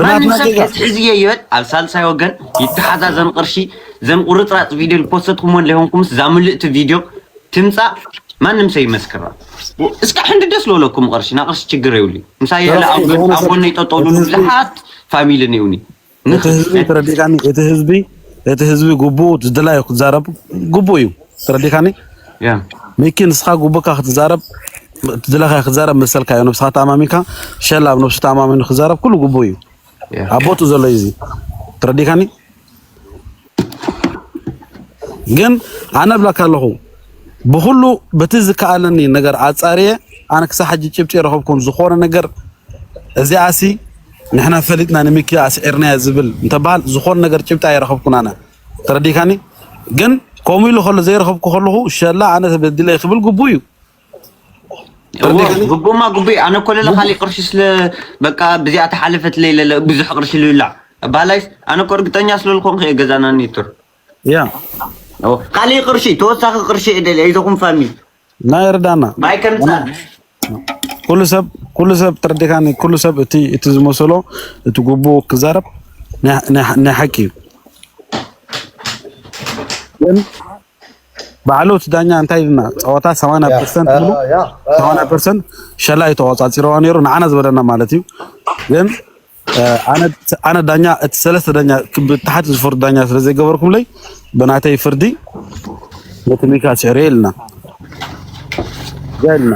ማንም ሰብ ከትሕዝዮ ይበል ኣብ ሳልሳይ ወገን ይተሓዛ ዘን ቅርሺ ዘን ቁርፅራፅ ቪድዮ ዝፖሰትኩሞ ለይኮንኩምስ እዛ ምልእቲ ቪድዮ ትምፃእ ማንም ሰብ ይመስክራ እስከ ሕንዲ ደስ ዝበለኩም ቅርሺ ና ቅርሺ ችግር የብሉ ምሳይ ያለ ኣብ ጎነይ ጠጠው ልሉ ብዙሓት ፋሚሊ ነይሩኒ እቲ ህዝቢ እቲ ህዝቢ ግቡኡ ዝድላዩ ክዛረብ ግቡእ እዩ ተረዲካኒ ሚኪ ንስኻ ግቡእካ ክትዛረብ ትድለኻ ክዛረብ መሰልካ እዩ ነብስኻ ተኣማሚንካ ሸላ ኣብ ነብሱ ተኣማሚኑ ክዛረብ ኩሉ ግቡእ እዩ ኣብ ቦትኡ ዘሎ እዩ እዚ ተረዲካኒ ግን ኣነ ብላካ ኣለኹ ብኩሉ በቲ ዝከኣለኒ ነገር ኣፃርየ ኣነ ክሳብ ሕጂ ጭብጢ የረኸብኩን ዝኾነ ነገር እዚኣሲ ንሕና ፈሊጥና ንሚኪ ኣስዒርናዮ ዝብል እንተበሃል ዝኾነ ነገር ጭብጢ ኣይረኸብኩን ኣነ ተረዲካኒ ግን ከምኡ ኢሉ ከሎ ዘይረኸብኩ ከለኹ ሸላ ኣነ ተበዲለ ክብል ግቡእ እዩ ግቡማ ግቡእ ኣነ እኮ ለለ ካሊእ ቅርሺ ስለ በቃ ብዚኣ ተሓለፈት ለይለለ ብዙሕ ቅርሺ ልብላዕ ባላይስ ኣነ እኮ እርግጠኛ ስለልኮንኩ እየ ገዛና ኔትር ያ ካሊእ ቅርሺ ተወሳኺ ቅርሺ እየ ደልያ ኢዘኹም ፋሚሊ ናይ እርዳና ማይ ከምፃን ኩሉ ሰብ ኩሉ ሰብ ተረዲካኒ ኩሉ ሰብ እቲ እቲ ዝመሰሎ እቲ ጉቡኡ ክዛረብ ናይ ሓቂ እዩ ግን ባዕሉ እቲ ዳኛ እንታይ ኢልና ፀወታ 80 ፐርሰንት ብሉ 80 ፐርሰንት ሸላ እዩ ተቆፃፂረዋ ነይሩ ንዓና ዝበለና ማለት እዩ ግን ኣነ ኣነ ዳኛ እቲ ሰለስተ ዳኛ ብታሕቲ ዝፈርዱ ዳኛ ስለ ዘይገበርኩምለይ ብናተይ ፍርዲ ነቲ ሚካ ስዕሬ ኢልና ገልና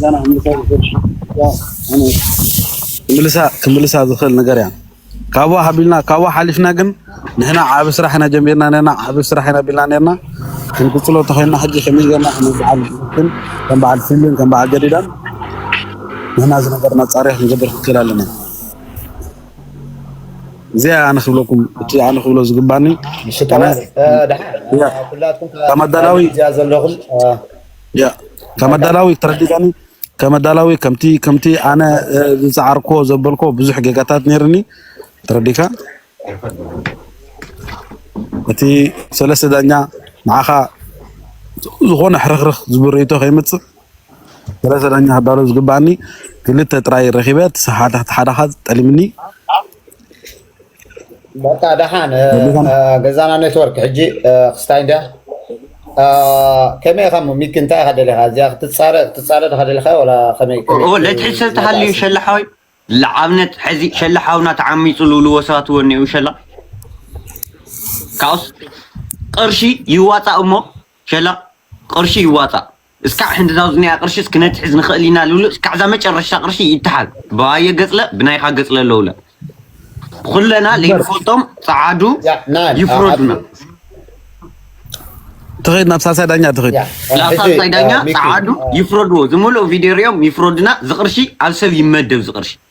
ገና ምልሳ ዝኽእል ነገር እያ ካብኡ ሓቢልና ካብኡ ሓሊፍና ግን ንሕና ዓቢ ስራሕ ኢና ጀሚርና ነርና ዓቢ ስራሕ ኢና ቢልና ነርና ክንቅጽሎ ተኾይንና ሕጂ ከመይ ጌርና ከም በዓል ግን ከም በዓል ፍልን ከም በዓል ገዲዳን ንሕና እዚ ነገር መጻርያ ክንገብር ክንክእል ኣለና እዚኣ ኣነ ክብለኩም እቲ ኣነ ክብሎ ዝግባኒ ከመዳላዊ ከመዳላዊ ተረዲዳኒ ከም ኣዳላዊ ከምቲ ከምቲ ኣነ ዝጸዓርኮ ዘበልኮ ብዙሕ ጌጋታት ነይርኒ ተረዲካ እቲ ሰለስተ ዳኛ ንዓኻ ዝኾነ ሕርኽርኽ ዝብል ርእይቶ ከይመጽእ ሰለስተ ዳኛ ክዳሎ ዝግባኣኒ ክልተ ጥራይ ረኺበ እቲ ሓደ ሓዳኻ ጠሊምኒ በቃ ደሓን ገዛና ኔትወርክ ሕጂ ክስታይ እንድያ ከመይ ኢኻ እሞ ሚኪ እንታይ ኢኻ ደሊኻ እዚኣ ክትፃረ ክትፃረ ድኻ ደሊኻ ወላ ከመይ ለትሕዝ ሰብ ተሃልዩ ሸላ ሓወይ ንኣብነት ሕዚ ሸላ ሓውና ተዓሚፁ ዝብልዎ ሰባት እውን እኒኡ ሸላ ካብኡስ ቅርሺ ይዋፃእ እሞ ሸላ ቅርሺ ይዋፃእ እስካዕ ሕንዲ ናውዝኒኣ ቅርሽስ ክነትሕዝ ንክእል ኢና ልብሉ እስካዕ እዛ መጨረሽታ ቅርሺ ይተሓዝ ብኣየ ገፅለ ብናይካ ገፅለ ለውለ ኩለና ለይንፈልጦም ፀዓዱ ይፍረዱና ትኸይድ ናብ ሳልሳይ ዳኛ ትኸይድ ናብ ሳልሳይ ዳኛ ፀዓዱ ይፍረድዎ ዝምልኦ ቪድዮ ሪኦም ይፍረዱና ዝቅርሺ ኣብ ሰብ ይመደብ ዝቅርሺ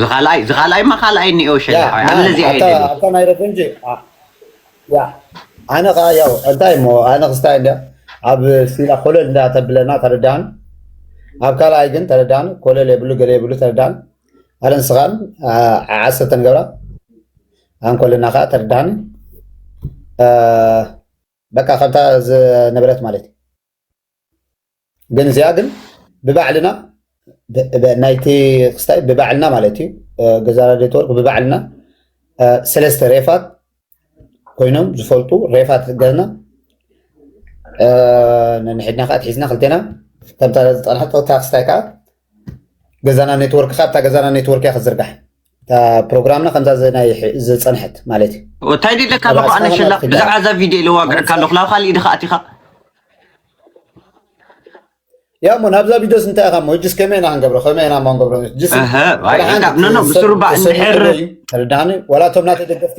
ዝኻልኣይ ዝኻልኣይ ማ ካልኣይ እኒኦ ሸላዓይ ኣነ ነዚኣ እየ ደልየ ኣታ ናይ ረቡንጂ ያ ኣነ ከዓ ያው እንታይ እሞ ኣነ ክስታይ እንዳ ኣብ ሲላ ኮለል እንዳ ተብለና ተረዳን ኣብ ካልኣይ ግን ተረዳን ኮለል የብሉ ገለ የብሉ ተረዳን ኣነ ንስኻን ዓሰርተ ንገብራ ኣንኮለና ከዓ ተረዳን በቃ ከምታ ዝነበረት ማለት እዩ ግን እዚኣ ግን ብባዕልና ናይቲ ክስታይ ብባዕልና ማለት እዩ ገዛ ራድዮ ተወርቅ ብባዕልና ሰለስተ ሬፋት ኮይኖም ዝፈልጡ ሬፋት ዝገዝና ነንሕድና ከዓ ትሒዝና ክልቴና ከምታ ዝጠንሐቶ እታ ክስታይ ከዓ ገዛና ኔትወርክ ካብታ ገዛና ኔትወርክ እያ ክዝርጋሕ እታ ፕሮግራምና ከምዛ ዝፀንሐት ማለት እዩ እንታይ ድለካ ኣለኹ ኣነ ሸላ ብዛዕባ እዛ ቪድዮ ኢለ ዋግዕካ ኣለኹ ናብ ካሊእ ድኻ ኣቲኻ ያ እሞ ናብዛ ቪድዮስ እንታይ ኢኻ እሞ እጅስ ከመይ ኢና ክንገብሮ ከመይ ኢና እሞ ክንገብሮ ጅስ ብስሩባ እንድሕር ተረዳኒ ዋላ እቶም ናተይ ደገፍቲ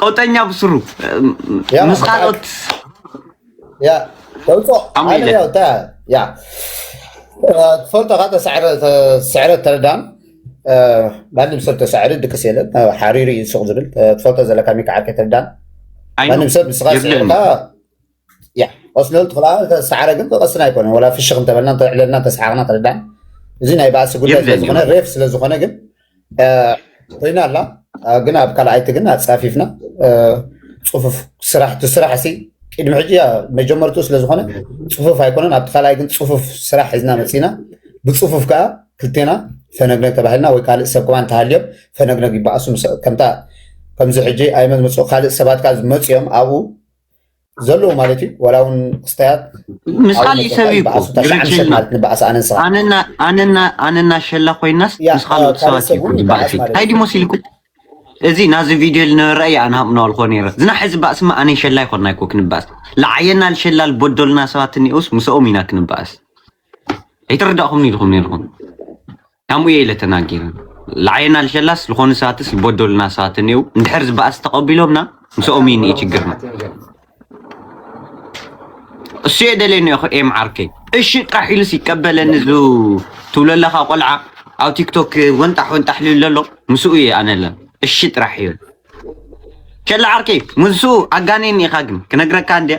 ቀውጠኛ ብስሩ ምስ ካልኦት ትፈልጦ ካ ስዕረት ተረዳም ማንም ሰብ ተሳዕሪ ድቅስ የለን ሓሪሩ እዩ ሱቅ ዝብል ትፈልጦ ዘለካ ሚካዓርከ ተረዳም ማንም ሰብ ንስካ ስዕርካ ያ ቆስሎ ትኽላ ሳዕረ ግን ብቐስና ኣይኮነን ወላ ፍሽኽ እንተበልና እንተዕለልና እንተሰሓቕና ተረዳን እዚ ናይ ባእሲ ጉዳይ ስለዝኾነ ሬፍ ስለዝኾነ ግን ኮይና ኣላ ግን ኣብ ካልኣይቲ ግን ኣፃፊፍና ፅፉፍ ስራሕ እቲ ስራሕ ሲ ቅድሚ ሕጂ መጀመርቱ ስለዝኾነ ፅፉፍ ኣይኮነን ኣብቲ ካልኣይ ግን ፅፉፍ ስራሕ ሒዝና መፂና ብፅፉፍ ከዓ ክልቴና ፈነግነግ ተባሂልና ወይ ካልእ ሰብ ከማ እንተሃልዮም ፈነግነግ ይበኣሱ ከምታ ከምዚ ሕጂ ኣይመዝመፁ ካልእ ሰባት ከዓ ዝመፅኦም ኣብኡ ዘለዎ ማለት እዩ ዋላ እውን ክስታያት ምስ ካልእ ሰብ እዩ እኮ ግርጭና ማለት ንበዓስ ኣነን ስኻ ኣነና ሸላ ኮይናስ ምስ ካልኦት ሰባት እዩ ዝበዓስ ታይ ዲሞስ ኢልኩም እዚ ናዚ ቪድዮ ልነበረ እያ ኣነ ሃምናዋልኮ ነረ ዝና ሕዚ ባእስማ ኣነን ሸላ ይኮና ይኮ ክንበኣስ ለዓየና ልሸላ ልበደሉና ሰባት እኒኦስ ምስኦም ኢና ክንበኣስ ኣይተረዳእኹም ኢልኹም ነርኹም ካምኡ ኢለ ተናጊረ ልዓየና ልሸላስ ልኾኑ ሰባትስ ልበዶሉና ሰባት እኔዉ እንድሕር ዝበኣስ ተቐቢሎምና ምስኦም እዩ እኒኤ ችግርና እሱ እየ ደልየ እኒኦኹ ኤም ዓርከይ እሺ ጥራሕ ኢሉስ ይቀበለኒ ዙ ትብለለኻ ቆልዓ ኣብ ቲክቶክ ወንጣሕ ወንጣሕ ልል ዘሎ ምስኡ እየ ኣነለ እሺ ጥራሕ ይብል ሸላ ዓርከይ ምስኡ ኣጋኔኒ ኢኻ ግን ክነግረካ እንድየ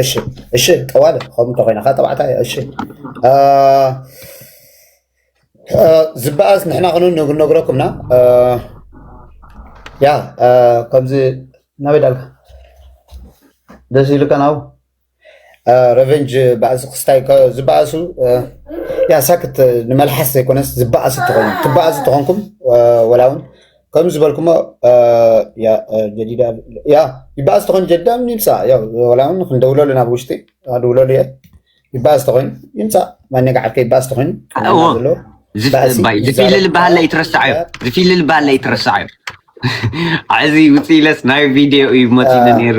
እሺ እሺ ጠዋለ ከምኡ እንተኮይና ከ ጠባዕታ እያ እሺ ዝበኣስ ንሕና ክኑ ነግረኩምና ያ ከምዚ ናበይ ዳልካ ደስ ኢሉካ ናብኡ ረቨንጅ ባእሲ ክስታይ ዝበኣሱ ያ ሳክት ንመልሓስ ዘይኮነስ ዝበኣሱ ትኾኑ ትበኣሱ ትኾንኩም ወላ እውን ከም ዝበልኩሞ ጀዲዳ ያ ይበኣስ ተኾይኑ ጀዲዳ ይምፃእ ያው ወላ እውን ክንደውለሉ ናብ ውሽጢ ኣድውለሉ እየ ይበኣስ ተኾይኑ ይምፃእ ማነጋ ዓርከ ይበኣስ ተኾይኑ ዘሎ ዝፊሊ ዝበሃል ላይ ትረሳዓዮ ዝፊሊ ዝበሃል ላይ ትረሳዓዮ ዓዚ ውፅኢለስ ናይ ቪድዮ እዩ መፂሉ ነይሩ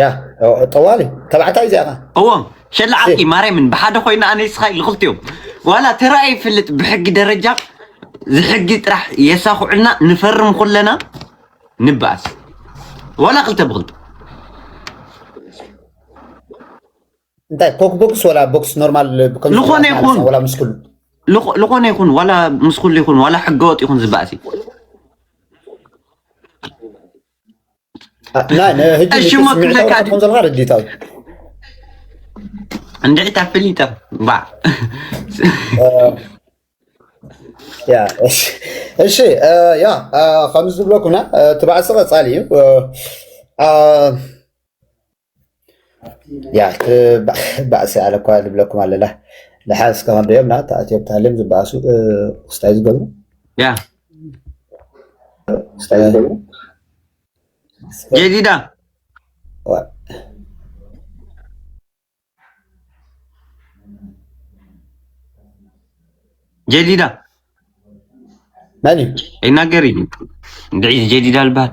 ያ ጠዋሊ ተባዕታይ እዚኣኻ እዎም ሸላ ዓርቂ ማርያምን ብሓደ ኮይና ኣነ ስኻ ልኽልቲኦም ዋላ ተራእየ ይፈልጥ ብሕጊ ደረጃ ዝሕጊ ጥራሕ የሳኹዕልና ንፈርም ኩለና ንበኣስ ዋላ ክልተ ብክልተ እንታይ ኮክ ቦክስ ወላ ቦክስ ኖርማል ዝኾነ ይኹን ወላ ምስ ኩሉ ዝኾነ ይኹን ዋላ ምስ ኩሉ ይኹን ዋላ ሕገወጥ ይኹን ዝበኣስ እዩ እሽሞ ክብለካ ዘለካ ረዲታ እንድዒ ታፍሊጠ ባ እሺ ያ ከምዚ ዝብለኩና እቲ ባዕሲ ቀፃሊ እዩ ያ ባእሲ ኣነ እኳ ንብለኩም ኣለና ንሓንስ ከኸንዶ እዮም ና ተኣትዮም ተሃልዮም ዝበኣሱ ክስታይ ዝገብሩ ያ ክስታይ ዝገብሩ ጌዲዳ ጌዲዳ መን እዩ ኣይናገር እዩ እንድዒ ጌዲዳ ልበሃል